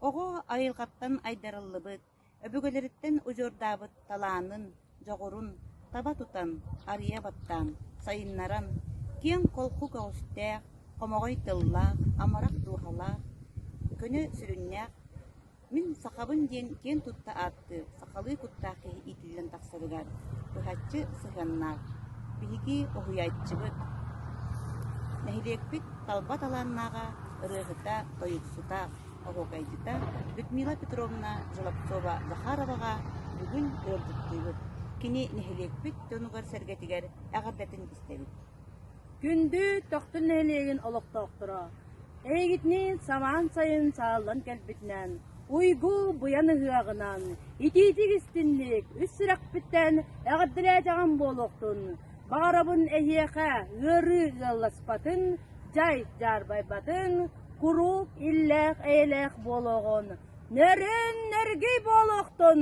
Оҕо айылҕаттан айдарыллыбыт, өбүгэлэриттэн удьуордаабыт талаанын, дьоҕурун таба тутан, арыйа баттаан, сайыннаран, киэҥ-холку көҕүстээх, хомоҕой тыллаах, амарах дууһалаах, көнө сүрүннээх Мин сахабын диэн киэн тутта ааттыыр сахалыы куттаах киһи иитиллэн тахсарыгар быһаччы сыһыаннаах. Биһиги уһуйааччыбыт, нэһилиэкпит талба талааннааҕа, ырыаһыта, тойуксута, оһуокайдьыта Людмила Петровна Желобцова-Захароваҕа бүгүн ыалдьыттыыбыт. Кини нэһилиэкпит дьонугар-сэргэтигэр эҕэрдэтин истэбит. Күндү Тохтун нэһилиэгин олохтоохторо! Эйигитинэн самаан сайын сааллан кэлбитинэн, уйгу быйан ыһыаҕынан, итиитик истинник үс сүрэхпиттэн эҕэрдэлээтэҕим буолуохтун! Баҕарабын эһиэхэ ыарыы ыалласпатын, дьай дьаарбайбатын, куруук иллээх-эйэлээх буолуоҕун, нөрөн-нөргүй буолуохтун!